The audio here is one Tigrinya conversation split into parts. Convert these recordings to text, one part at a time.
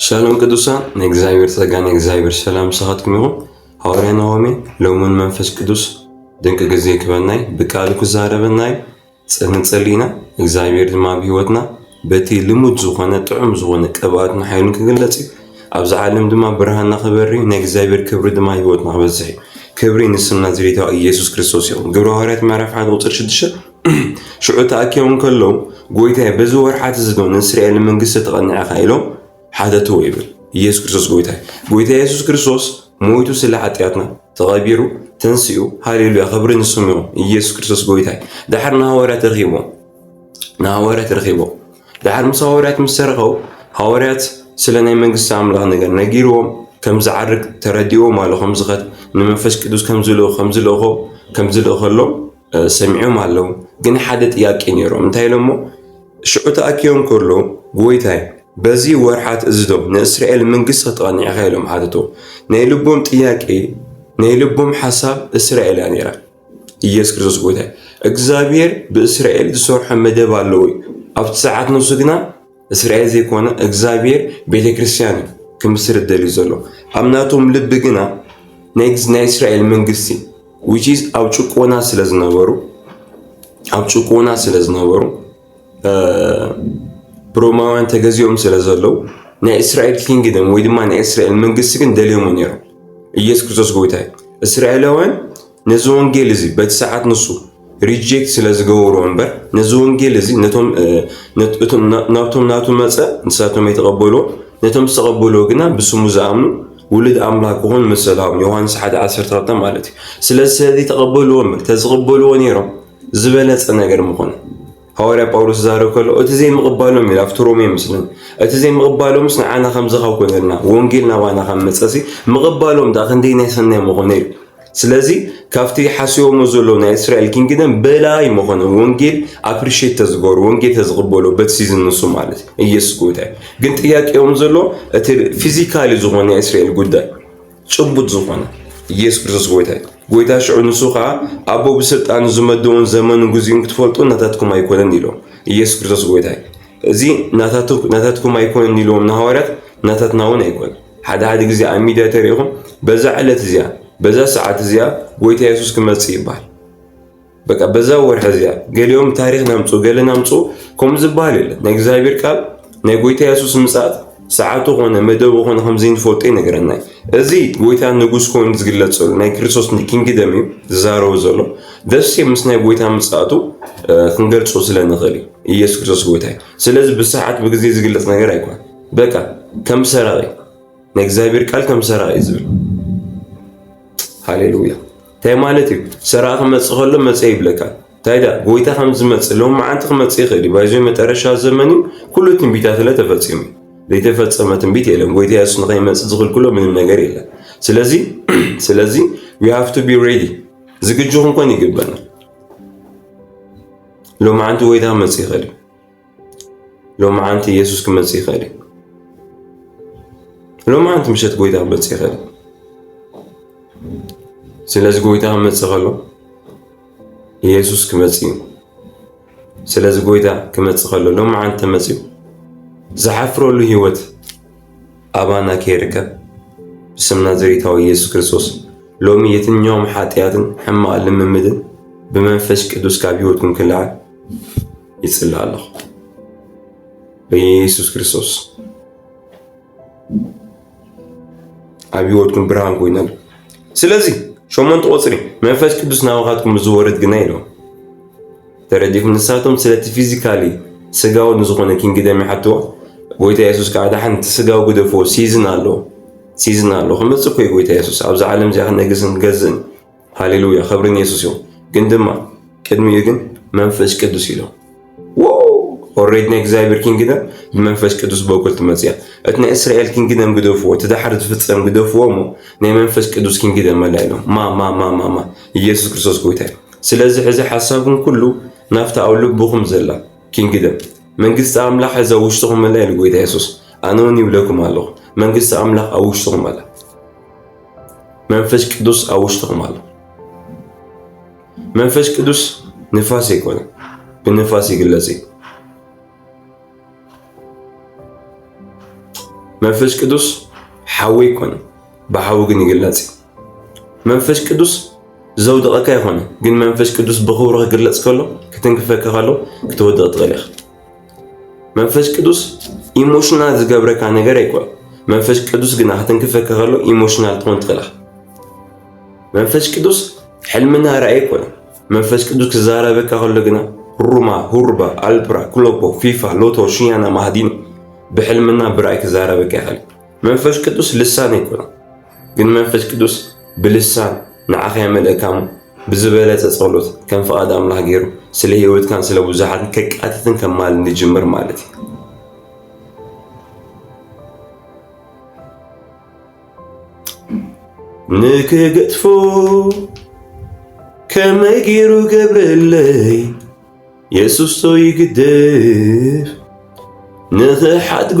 ሰላም ቅዱሳን ናይ እግዚኣብሔር ጸጋ ናይ እግዚኣብሔር ሰላም ምሳኻትኩም ይኹን። ሃዋርያ ናሆሜ ሎሙን መንፈስ ቅዱስ ድንቂ ግዜ ክበናይ ብቃሉ ክዛረበናይ ንጸሊ ኢና። እግዚኣብሔር ድማ ኣብ ህይወትና በቲ ልሙድ ዝኾነ ጥዑም ዝኾነ ቅብኣትን ሓይሉን ክግለጽ እዩ። ኣብዚ ዓለም ድማ ብርሃንና ክበሪ ናይ እግዚኣብሔር ክብሪ ድማ ህይወትና ክበዝሕ እዩ። ክብሪ ንስም ናዝሬታዊ ኢየሱስ ክርስቶስ ይኹን። ግብረ ሃዋርያት ምዕራፍ 1 ቁጽሪ 6 ሽዑ ተኣኪቦም ከለዉ ጎይታይ በዚ ወርሓት እዚ ዶ ንእስራኤል መንግስቲ ተቐኒዐ ኢኻ ኢሎም ሓተትዎ ይብል ኢየሱስ ክርስቶስ ጎይታይ ጎይታ ኢየሱስ ክርስቶስ ሞይቱ ስለ ሓጢኣትና ተቐቢሩ ተንስኡ ሃሌሉያ ክብሪ ንስሙ ይኹን ኢየሱስ ክርስቶስ ጎይታይ ድሓር ንሃዋርያት ረኺቦ ንሃዋርያት ረኺቦ ድሓር ምስ ሃዋርያት ምስ ተረኸቡ ሃዋርያት ስለ ናይ መንግስቲ ኣምላኽ ነገር ነጊርዎም ከም ዝዓርግ ተረዲእዎም ኣሎ ከም ዝኸት ንመንፈስ ቅዱስ ከም ዝልእኾ ከም ዝልእኾ ከም ዝልእኸሎም ሰሚዖም ኣለዉ ግን ሓደ ጥያቄ ነይሮም እንታይ ኢሎሞ ሽዑ ተኣኪቦም ከሎ ጎይታይ በዚ ወርሓት እዚ ዶ ንእስራኤል መንግስቲ ክተቐኒዕኻ ኢሎም ሓተቶ ናይ ልቦም ጥያቄ ናይ ልቦም ሓሳብ እስራኤል እያ ነይራ ኢየሱስ ክርስቶስ ጎይታይ እግዚኣብሔር ብእስራኤል ዝሰርሖ መደብ ኣለዎ ኣብቲ ሰዓት ንሱ ግና እስራኤል ዘይኮነ እግዚኣብሔር ቤተክርስትያን እዩ ክምስርት ደልዩ ዘሎ ኣብ ናቶም ልቢ ግና ናይ እስራኤል መንግስቲ ዊችዝ ኣብ ጭቆና ስለ ዝነበሩ ኣብ ጭቆና ስለ ዝነበሩ ብሮማውያን ተገዚኦም ስለ ዘለዉ ናይ እስራኤል ኪንግደም ወይ ድማ ናይ እስራኤል መንግስቲ ግን ደልዮሞ ነይሮም ኢየሱስ ክርስቶስ ጎይታ እዩ እስራኤላውያን ነዚ ወንጌል እዚ በቲ ሰዓት ንሱ ሪጀክት ስለ ዝገበሮ እምበር ነዚ ወንጌል እዚ ናብቶም ናቱ መፀ ንሳቶም ኣይተቐበሎ ነቶም ዝተቐበሎ ግና ብስሙ ዝኣምኑ ውሉድ ኣምላክ ክኾኑ መሰልሃቦም ዮሃንስ 1 12 ማለት እዩ ስለዚ ስለዚ ተቐበልዎ እምበር ተዝቕበልዎ ነይሮም ዝበለፀ ነገር ምኾነ ሃዋርያ ጳውሎስ ዝዛረብ ከሎ እቲ ዘይምቕባሎም እዩ ኣብቲ ሮሜ ምስልን እቲ ዘይምቕባሎምስ ንዓና ከምዚ ካብ ኮይነልና ወንጌል ናባና ካብ መጸሲ ምቕባሎም ዳ ክንደይ ናይ ሰናይ ምኾነ እዩ ስለዚ ካብቲ ሓስቦሞ ዘሎ ናይ እስራኤል ኪንግደም በላይ መኾነ ወንጌል ኣፕሪሽት ተዝገበሩ ወንጌል ተዝቕበሉ በቲ ሲዝን ንሱ ማለት ኢየሱስ ጎይታ ግን ጥያቄኦም ዘሎ እቲ ፊዚካሊ ዝኾነ ናይ እስራኤል ጉዳይ ጭቡጥ ዝኾነ ኢየሱስ ክርስቶስ ጎይታ እዩ። ጎይታ ሽዑ ንሱ ከዓ ኣቦ ብስልጣኑ ዝመደውን ዘመኑ ግዚኡን ክትፈልጡ ናታትኩም ኣይኮነን ኢሎም። ኢየሱስ ክርስቶስ ጎይታ እዩ። እዚ ናታትኩም ኣይኮነን ኢልዎም ንሃዋርያት ናታትና እውን ኣይኮነ። ሓደ ሓደ ግዜ ኣብ ሚድያ ተሪኢኹም በዛ ዕለት እዚኣ በዛ ሰዓት እዚኣ ጎይታ ኢየሱስ ክመፅእ ይበሃል። በቃ በዛ ወርሒ እዚኣ ገሊኦም ታሪክ ናምፁ ገለ ናምፁ ከምኡ ዝበሃል የለን። ናይ እግዚኣብሔር ቃል ናይ ጎይታ የሱስ ምጽኣት ሰዓቱ ኮነ መደቡ ኮነ ከምዘይንፈልጦ ይነግረና እዩ። እዚ ጎይታ ንጉስ ኮይኑ ዝግለጽ ዘሎ ናይ ክርስቶስ ኪንግደም እዩ ዝዛረቡ ዘሎ ደስ ምስ ናይ ጎይታ ምጽኣቱ ክንገልጾ ስለንኽእል እዩ። ኢየሱስ ክርስቶስ ጎይታ እዩ። ስለዚ ብሰዓት ብግዜ ዝግለጽ ነገር ኣይኮን። በቃ ከም ሰራቂ ናይ እግዚኣብሔር ቃል ከም ሰራቂ ዝብል ሃሌሉያ ታይ ማለት እዩ ሰራቂ ክመፅእ ከሎ መፀ ይብለካ ታይዳ ጎይታ ከምዝመፅ ሎም መዓንቲ ክመፅ ይክእል እዩ ባይዞ መጠረሻ ዘመን እዩ ኩሉ ትንቢታትለ ተፈፂሙ ዘይተፈፀመ ትንቢት የለን ጎይታ የሱስ ንከይመፅእ ዝክልክሎ ምንም ነገር የለን ስለዚ ስለዚ ዊ ሃቭ ቱ ቢ ሬዲ ዝግጁ ክንኮን ይግበና ሎማዓንቲ ወይታ መፅ ይኸል ሎምዓንቲ ኢየሱስ ክመጽእ ይኽእል እዩ። ሎምዓንቲ ምሸት ጎይታ ክመጽእ ይኽእል እዩ። ስለዚ ጎይታ ክመጽእ ከሎ ኢየሱስ ክመጽእ እዩ። ስለዚ ጎይታ ክመጽእ ከሎ ሎምዓንቲ ተመጽዩ ዝሓፍረሉ ህይወት ኣባና ከይርከብ ብስም ናዝሬታዊ ኢየሱስ ክርስቶስ ሎሚ የትኛውም ሓጢኣትን ሕማቕ ልምምድን ብመንፈስ ቅዱስ ካብ ህይወትኩም ክለዓል ይጽሊ ኣለኹ በየሱስ ክርስቶስ ኣብ ህይወትኩም ብርሃን ኮይነ ስለዚ ሸሞንተ ቁፅሪ መንፈስ ቅዱስ ናባኻትኩም ዝወርድ ግና ኢሎም ተረዲኹም ንሳቶም ስለቲ ፊዚካሊ ስጋዊ ንዝኾነ ኪንግደም ይሓትዋ ጎይታ የሱስ ከዓ ዳሓን እቲ ስጋዊ ግደፎ ሲዝን ኣሎ ሲዝን ኣሎ ክመፅእ ኮይ ጎይታ የሱስ ኣብዛ ዓለም እዚኣ ክነግስን ገዝእን ሃሌሉያ ክብርን የሱስ ይኹን። ግን ድማ ቅድሚኡ ግን መንፈስ ቅዱስ ኢሎ ኦሬድ ናይ እግዚኣብሔር ኪንግደም ብመንፈስ ቅዱስ በኩል ትመፅያ እቲ ናይ እስራኤል ኪንግደም ግደፍዎ እቲ ዳሓር ዝፍፀም ግደፍዎ እሞ ናይ መንፈስ ቅዱስ ኪንግደም ኣላ ኢሎም ማማማማማ ኢየሱስ ክርስቶስ ጎይታ እዩ ስለዚ ሕዚ ሓሳብኩም ኩሉ ናብታ ኣብ ልብኹም ዘላ ኪንግደም መንግስቲ ኣምላኽ እዛ ውሽጥኹም ኣላ ኢሉ ጎይታ የሱስ ኣነ እውን ይብለኩም ኣለኹ መንግስቲ ኣምላኽ ኣብ ውሽጥኹም ኣላ መንፈስ ቅዱስ ኣብ ውሽጥኹም ኣሎ። መንፈስ ቅዱስ ንፋስ ኣይኮነ፣ ብንፋስ ይግለጽ እዩ። መንፈስ ቅዱስ ሓዊ ኣይኮነ፣ ብሓዊ ግን ይግለጽ እዩ። መንፈስ ቅዱስ ዘውድቐካ ይኾነ፣ ግን መንፈስ ቅዱስ ብኽብሩ ክግለጽ ከሎ ክትንክፈካ ከሎ ክትወድቕ ትኽእል ኢኻ። መንፈስ ቅዱስ ኢሞሽናል ዝገብረካ ነገር ኣይኮን መንፈስ ቅዱስ ግና ክትንክፈካ ከሎ ኢሞሽናል ትኾን ትኽእላ መንፈስ ቅዱስ ሕልምና ራእይ ኮነ መንፈስ ቅዱስ ክዛረበካ ከሎ ግና ሩማ ሁርባ ኣልፕራ ክሎፖ ፊፋ ሎቶ ሽያና ማህዲን ብሕልምና ብራእይ ክዛረበካ ይኽእል መንፈስ ቅዱስ ልሳን ኣይኮነ ግን መንፈስ ቅዱስ ብልሳን ንዓኻ የመልእካ እሞ ብዝበለጸ ጸሎት ከም ፍቓድ ኣምላኽ ገይሩ ስለ ህይወትካን ስለ ብዙሓትን ከቃትትን ከማልን ይጅምር ማለት እዩ። ንክገጥፎ ከመይ ገይሩ ገብረለይ የሱሶ ይግደፍ ንኽሓድጎ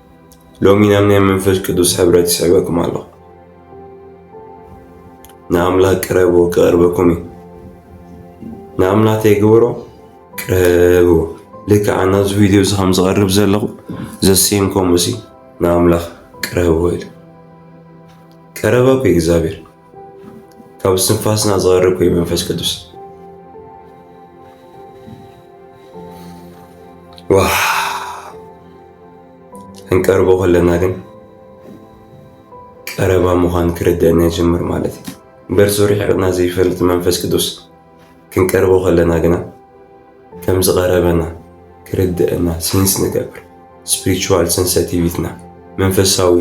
ሎሚ ናብ ናይ መንፈስ ቅዱስ ሕብረት ይስዕበኩም ኣሎ ንኣምላኽ ቅረቡ ክቐርበኩም እዩ ንኣምላኽ ተይግበሮ ቅረብዎ ልክዕ ኣና እዚ ቪድዮ እዚ ከም ዝቐርብ ዘለኹ ዘሴም ከምኡሲ ንኣምላኽ ቅረብዎ ኢሉ ቀረበኩ እግዚኣብሔር ካብ እስትንፋስና ዝቐርብ ኮይኑ መንፈስ ቅዱስ ዋ ክንቀርቦ ከለና ግን ቀረባ ምዃን ክርደአና ይጀምር ማለት እዩ። በርሱ ርሒቕና ዘይፈልጥ መንፈስ ቅዱስ ክንቀርቦ ከለና ግና ከም ዝቐረበና ክርድእና ሴንስ ንገብር ስፕሪቹዋል ሰንሰቲቪትና መንፈሳዊ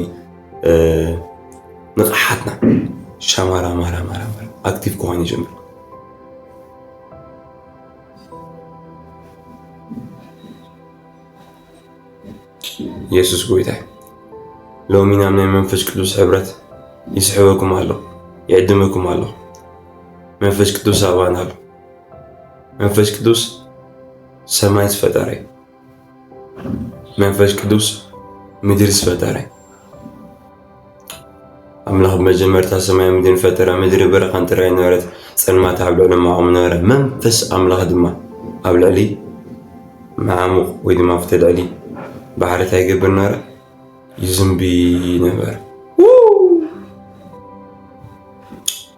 ንቕሓትና ሻማራ ማራ ማራ ማራ ኣክቲቭ ክኾን ይጀምር። የሱስ ጎይታ ሎሚ ናብ ናይ መንፈስ ቅዱስ ሕብረት ይስሕበኩም ኣሎ ይዕድመኩም ኣሎ መንፈስ ቅዱስ ኣባና ኣሎ መንፈስ ቅዱስ ሰማይ ዝፈጠረ መንፈስ ቅዱስ ምድሪ ዝፈጠረ ኣምላኽ ብመጀመርታ ሰማይን ምድርን ፈጠረ፣ ምድሪ በረኻን ጥራይን ነበረት፣ ጸልማት ኣብ ልዕሊ መዓሙቕ ነበረ፣ መንፈስ ኣምላኽ ድማ ኣብ ልዕሊ መዓሙቕ ወይ ድማ ኣብቲ ልዕሊ ባሕሪ እንታይ ይገብር ነበረ? ይዝንቢ ነበረ።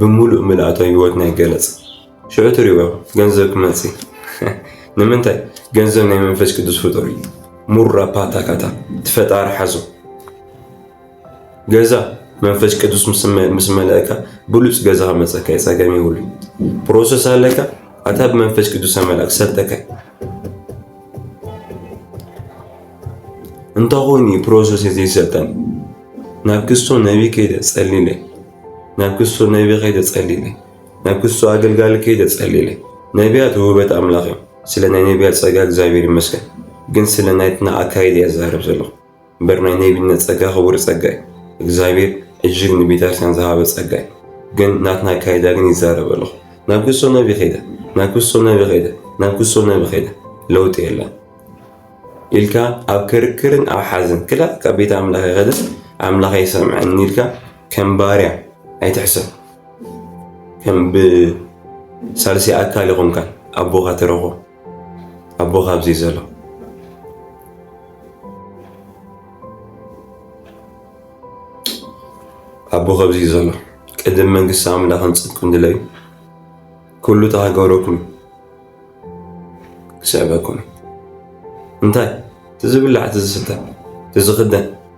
ብምሉእ ምልኣቶ ህይወት ናይ ገለጽ ሽዑ ትሪእዎ ገንዘብ ክመጽእ ንምንታይ ገንዘብ ናይ መንፈስ ቅዱስ ፍጡር እዩ ሙራ ፓታካታ ትፈጣሪ ሓዞ ገዛ መንፈስ ቅዱስ ምስ መለእካ ብሉፅ ገዛ ከመፀካ የፀገም ይብሉ ፕሮሰስ ኣለካ ኣታ ብመንፈስ ቅዱስ ኣመላክ ሰተካ እንተኾይኑ ፕሮሰስ ዘይሰልጠን ናብ ክስቶ ነቢ ከይደ ፀሊለ ናብ ክሱ ነቢ ከይተጸልይለ ናብ ክሱ ኣገልጋሊ ከይተጸልይለ ነቢያት ውህበት ኣምላኽ እዮም ስለ ናይ ነቢያት ጸጋ እግዚኣብሔር ይመስገን ግን ስለ ናይትና ኣካይድ እያ ዝዛረብ ዘለኹ እምበር ናይ ነቢነት ጸጋ ክቡር ጸጋ እዩ እግዚኣብሔር እጅግ ንቤተክርስቲያን ዝሃበ ጸጋ እዩ ግን ናትና ኣካይዳ ግን ይዛረብ ኣለኹ ናብ ክሱ ነቢ ከይደ ናብ ክሱ ነቢ ከይደ ናብ ክሱ ነቢ ከይደ ለውጢ የለን ኢልካ ኣብ ክርክርን ኣብ ሓዘን ክላ ካብ ቤት ኣምላኽ ይኸደ ኣምላኽ ይሰምዐኒ ኢልካ ከም ባርያ ኣይትሕሰብ ከም ብሳልሰይ ኣካል ይኹንካ ኣቦኻ ተረኾ ኣቦኻ ኣብዚ ዘሎ ኣቦ ከብዚ ዘሎ ቅድም መንግስቲ ኣምላኽን ጽድቅን ድለዩ ኩሉ ተሃገረኩም ክስዕበኩም እንታይ ትዝብላዕ ትዝስተ ትዝኽደን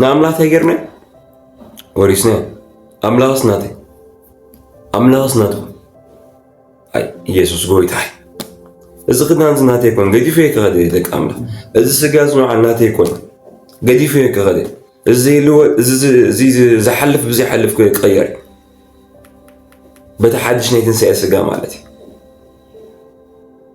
ንኣምላኽ ተገርመ ወሪስነ ኣምላኽስ ናተይ ኣምላኽስ ናቱ ኣይ ኢየሱስ ጎይታ እዚ ክዳንዚ ናተይ ኮን ገዲፈ ከኸደ ደቂ ኣምላኽ እዚ ስጋ ዝንዓል ናተይ ኮን ገዲፈ ከኸደ እዚ ዝሓልፍ ብዘይሓልፍ ክቀየር በቲ ሓድሽ ናይ ትንሳኤ ስጋ ማለት እዩ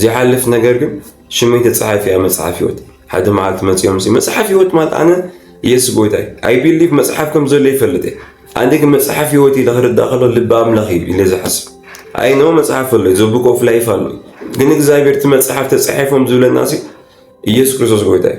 ዘይሓልፍ ነገር ግን ሽመይ ተጻሒፉ እያ መጽሓፍ ህይወት ሓደ መዓልቲ መጽኦም ሲ መጽሓፍ ህይወት ማለት ኣነ ኢየሱስ ጎይታ እዩ ኣይ ቢሊቭ መጽሓፍ ከም ዘሎ ይፈልጥ እየ ኣነ ግን መጽሓፍ ህይወት ኢለ ክርዳእ ከሎ ልቢ ኣምላኽ እዩ ኢለ ዝሓስብ ኣይ ነው መጽሐፍ ኣሎ ዘቡክ ኦፍ ላይፍ ኣሎ ግን እግዚኣብሔር እቲ መጽሐፍ ተጻሒፎም ዝብለና ሲ ኢየሱስ ክርስቶስ ጎይታ እዩ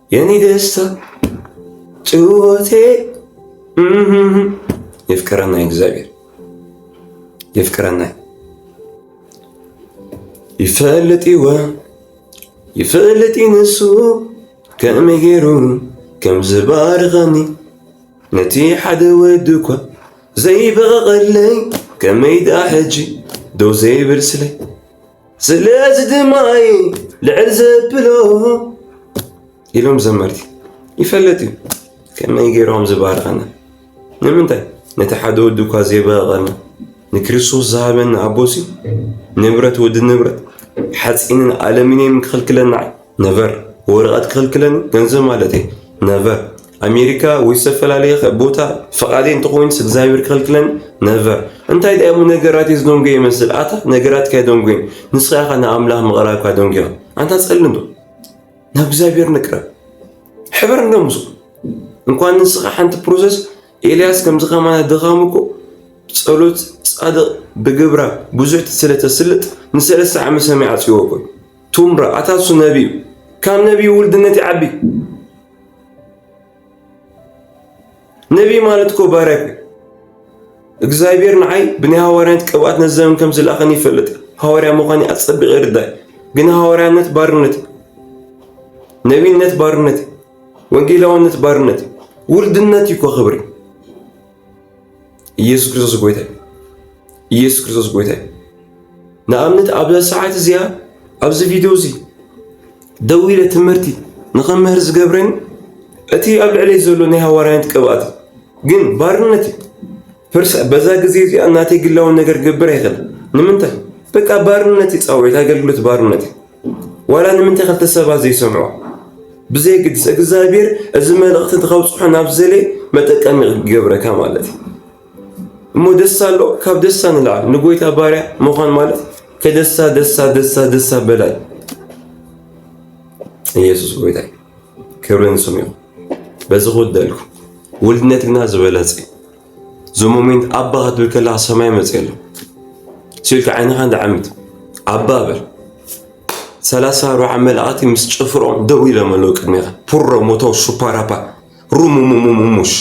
የኔ ደስታ ጭወቴ የፍቅረና እግዚአብሔር የፍቅረና ይፈልጥ ይወ ይፈልጥ ይንሱ ከመይ ገይሩ ከም ዝባርኸኒ ነቲ ሓደ ወዲ እኳ ዘይበቐቐለይ ከመይ ደኣ ሕጂ ደው ዘይብል ስለይ ስለዚ ድማ እዩ ልዕል ዘብሎ ኢሎም ዘመርቲ ይፈለጥ እዩ ከመይ ገይሮም ዝባርኸና ንምንታይ ነቲ ሓደ ወዲ እኳ ዘይበቐልና ንክርስቶስ ዝሃበና ኣቦሲ ንብረት ወዲ ንብረት ሓፂንን ኣለሚንየም ክኽልክለና ነበር ወረቐት ክኽልክለን ገንዘብ ማለት እዩ ነበር ኣሜሪካ ወይ ዝተፈላለየ ከ- ቦታ ፈቃደይ እንተኾይንስ እግዚኣብሔር ክኽልክለን ነቨር እንታይ ድኣ እሞ ነገራት እዩ ዝደንጎየ ይመስል ኣታ ነገራትካ ኣይደንጎየን ንስኻ ኢኻ ንኣምላኽ ምቕራብካ ደንጉዮ ኣንታ ጸልም ዶ ናብ እግዚኣብሔር ንቅረብ ሕበር እንዶ ምስ እንኳን ንስኻ ሓንቲ ፕሮሰስ ኤልያስ ከምዚ ከማና ድኻም እኮ ጸሎት ጻድቕ ብግብራ ብዙሕ ስለ ተስልጥ ንሰለስተ ዓመት ሰማይ ዓጽይዎ እኮ እዩ። ቱምራ ኣታ እሱ ነቢ እዩ ካብ ነቢ ውልድነት ይዓቢ ነቢይ ማለት እኮ ባርያ እዩ። እግዚኣብሔር ንዓይ ብናይ ሃዋርያነት ቅብኣት ነዚ ዘመን ከም ዝለኣኸኒ ይፈልጥ። ሃዋርያ ምዃኔ ኣጸቢቐ ይርዳእ። ግን ሃዋርያነት ባርነት እዩ። ነቢይነት ባርነት እዩ። ወንጌላውነት ባርነት እዩ። ውልድነት እዩ እኮ ክብሪ ኢየሱስ ክርስቶስ ጎይታ ኢየሱስ ክርስቶስ ጎይታ ንኣብነት ኣብ ሰዓት እዚኣ ኣብዚ ቪድዮ እዚ ደው ኢለ ትምህርቲ ንኸምህር ዝገብረኒ እቲ ኣብ ልዕለይ ዘሎ ናይ ሃዋርያነት ቅብኣት ግን ባርነት ፍርሳ በዛ ግዜ እዚኣ እናተይ ግላውን ነገር ገብር ኣይኽእል ንምንታይ በቃ ባርነት እዩ ፃውዒት ኣገልግሎት ባርነት እዩ ዋላ ንምንታይ ክልተ ሰባት ዘይሰምዑ ብዘይግድስ እግዚኣብሔር እዚ መልእኽቲ ንኸብፅሖ ናብ ዘሌ መጠቀሚ ይገብረካ ማለት እዩ እሞ ደስ ኣሎ ካብ ደሳ ንላዕሊ ንጎይታ ባርያ ምዃን ማለት ከደሳ ደሳ ደሳ ደሳ በላይ ኢየሱስ ጎይታ ክብርን ስሙ ይኹን በዚ ክውደልኩ ውልድነት ግና ዝበለጸ እዞ ሞሜንት ኣባ ክትብል ከለካ ሰማይ መፅ ኣሎ ስኢልካ ዓይንኻ እንዳዓምት ኣባ በል ሰላሳ ኣርባዓ መላእኽቲ ምስ ጭፍሮም ደው ኢሎም ኣለዉ ቅድሜኻ ፑሮ ሞቶ ሱፓራፓ ሩሙሙሙሙሽ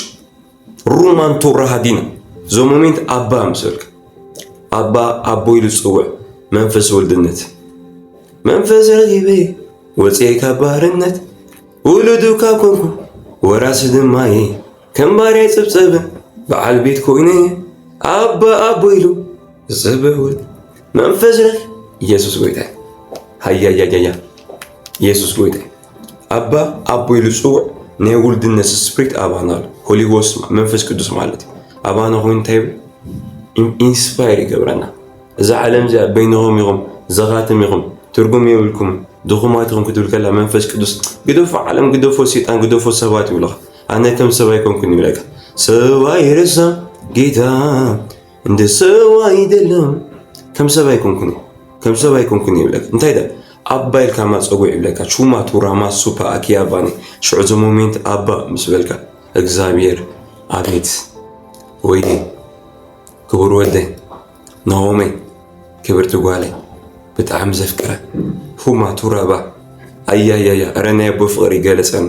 ሩማንቱ ራሃዲና እዞ ሞሜንት ኣባ ምስ በልካ ኣባ ኣቦ ኢሉ ዝፅውዕ መንፈስ ወልድነት መንፈስ ረጊበ ወፅኤ ካብ ባህርነት ውሉዱ ካብ ኮንኩ ወራሲ ድማ እየ ከም ባርያ ይጽብጸብን በዓል ቤት ኮይነ ኣባ ኣቦ ኢሉ ዝጽበውን መንፈስ ረፍ ኢየሱስ ጎይታ ሃያያያያ ኢየሱስ ጎይታ ኣባ ኣቦ ኢሉ ጽውዕ ናይ ውልድነት ስፕሪት ኣባና ኣሎ ሆሊጎስ መንፈስ ቅዱስ ማለት እዩ ኣባና ኮይኑ እንታይ ኢንስፓየር ይገብረና እዛ ዓለም እዚኣ በይንኹም ኢኹም ዘኻትም ኢኹም ትርጉም የብልኩም ድኹማት ኢኹም ክትብል ከላ መንፈስ ቅዱስ ግደፎ ዓለም ግደፎ ሰይጣን ግደፎ ሰባት ይብለኻ ኣነ ከም ሰብ ኣይኮንኩን ይብለካ ሰብ ኣይረሳ ጌታ እንደ ሰብ ኣይደለም ከም ሰብ ኣይኮንኩን ከም ሰብ ኣይኮንኩን ይብለካ እንታይ ደ ኣባ ኢልካ ማፀጎ ይብለካ ቹማ ቱራማ ሱፓ ኣኪያባኒ ሽዑ እዚ ሞሜንት ኣባ ምስ በልካ እግዚኣብሔር ኣቤት ወይኔ ክቡር ወደይ ናሆመይ ክብርቲ ጓለይ ብጣዕሚ ዘፍቅረ ፉማ ቱራባ ኣያያያ ረናይ ኣቦ ፍቅሪ ይገለፀኒ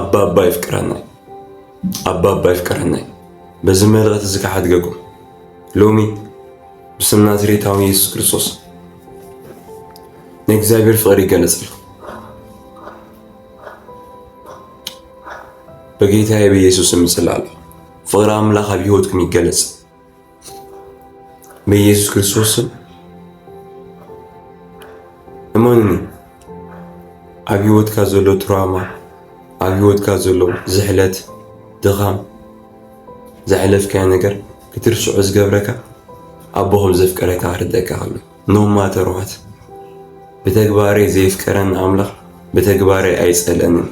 ኣባባ ይፍቅረናይ ኣባባ ይፍቅረናይ በዚ መልእኽቲ እዚ ክሓድገኩም ሎሚ ብስም ናዝሬታዊ ኢየሱስ ክርስቶስ ናይ እግዚኣብሔር ፍቅሪ ይገለጽልኩም በጌታዬ በኢየሱስ ስም እጽላለሁ ፍቅሪ ኣምላኽ ኣብ ህይወትኩም ይገለጽ በኢየሱስ ክርስቶስ ስም እመኑኒ ኣብ ህይወትካ ዘሎ ትራማ ኣብ ህይወትካ ዘሎ ዝሕለት ድኻም ዘሕለፍካዮ ነገር ክትርስዖ ዝገብረካ ኣቦ ከም ዘፍቀረካ ክርደካ ኣሎ ኖማተርዋት ብተግባረይ ዘየፍቀረኒ ኣምላኽ ብተግባረይ ኣይጸለንን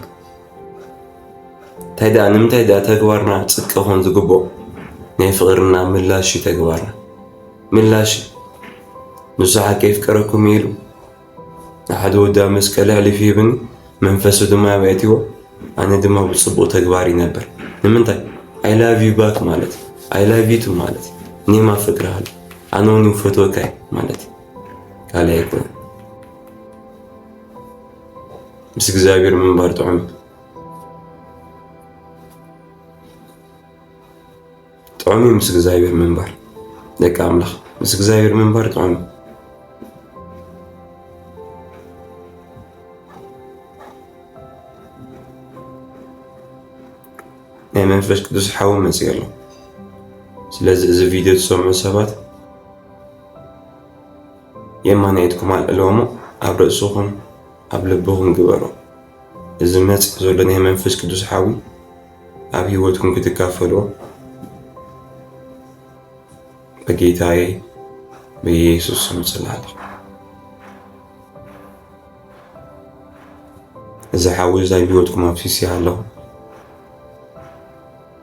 እንታይ ደኣ ንምንታይ ደኣ ተግባርና ጽድቂ ኾን ዝግብኦ ናይ ፍቕርና ምላሽ እዩ ተግባርና ምላሽ ንሱ ሓቂ ይፍቀረኩም ኢሉ ንሓደ ወዲ ኣብ መስቀል ኣሕሊፉ ይብኒ መንፈሱ ድማ ኣብያትዎ ኣነ ድማ ብጽቡቕ ተግባር ይነበር ንምንታይ ኣይ ላቭ ዩ ባክ ማለት ኣይ ላቭ ዩ ቱ ማለት እኔም ኣፈቅርሃለሁ ኣነ እውን ፈትወካ ማለት ካልእ ኣይኮነን ምስ እግዚኣብሔር ምንባር ጥዑም ጥዑም እዩ ምስ እግዚኣብሔር ምንባር ደቂ ኣምላኽ ምስ እግዚኣብሔር ምንባር ጥዑም ናይ መንፈስ ቅዱስ ሓዊ መፅእ ኣሎ ስለዚ እዚ ቪድዮ ዝሰምዑ ሰባት የማነ ኢድኩም ኣልዕልዎሞ ኣብ ርእስኹም ኣብ ልብኹም ግበሮ እዚ ዝመጽእ ዘሎ ናይ መንፈስ ቅዱስ ሓዊ ኣብ ህይወትኩም ክትካፈልዎ በጌታዬ በኢየሱስ ስም ጽላለኹ እዚ ሓዊ እዚ ኣብ ህይወትኩም ኣፍሲስያ ኣለኹ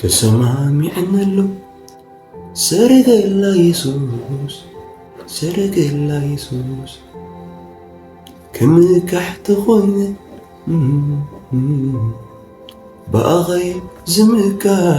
ተሰማሚዕነሉ ሰረገላ የሱስ ሰረገላ የሱስ ክምካሕ ተኾይነ ብኣኸይ ዝምካሕ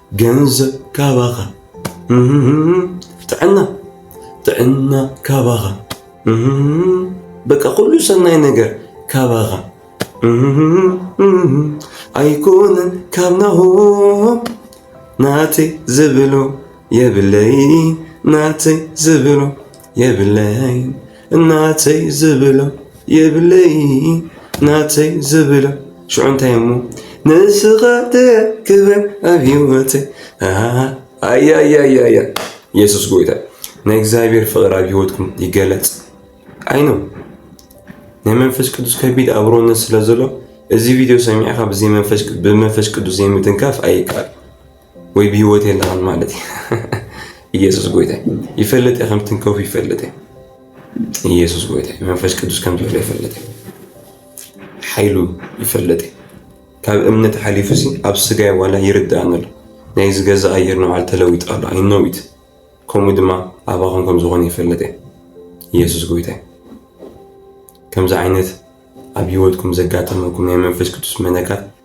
ገንዘብ ካባኻ ጥዕና ጥዕና ካባኻ በቃ ኩሉ ሰናይ ነገር ካባኻ ኣይኮነን ካብ ናሆም ናተይ ዝብሎ የብለይ ናተይ ዝብሎ የብለይን ናተይ ዝብሎ የብለይን ናተይ ዝብሎ ሽዑ እንታይ እሞ ንስኻ ክብር ኣብ ህይወተይ ኣያያያያ የሱስ ጎይታ ናይ እግዚኣብሔር ፍቕሪ ኣብ ህይወትኩም ይገለጽ ኣይኖ ናይ መንፈስ ቅዱስ ከቢድ ኣብሮነት ስለ ዘሎ እዚ ቪድዮ ሰሚዕካ ብመንፈስ ቅዱስ ዘይምትንካፍ ኣይከኣል ወይ ብህይወት የለኻን ማለት እዩ። ኢየሱስ ጎይታ ይፈልጥ ከም ትንከፍ ይፈልጥ ኢየሱስ ጎይታ መንፈስ ቅዱስ ከም ዘሎ ይፈልጥ ሓይሉ ይፈልጥ ካብ እምነት ሓሊፉ ሲ ኣብ ስጋይ ዋላ ይርዳእኒ ኣሎ ናይ ዝገዛ ኣየር ንባዕሉ ተለዊጡ ኣሎ ኣይነዊት ከምኡ ድማ ኣባኹም ከም ዝኾነ ይፈልጥ ኢየሱስ ጎይታ ከምዚ ዓይነት ኣብ ህይወትኩም ዘጋጠመኩም ናይ መንፈስ ቅዱስ መነካት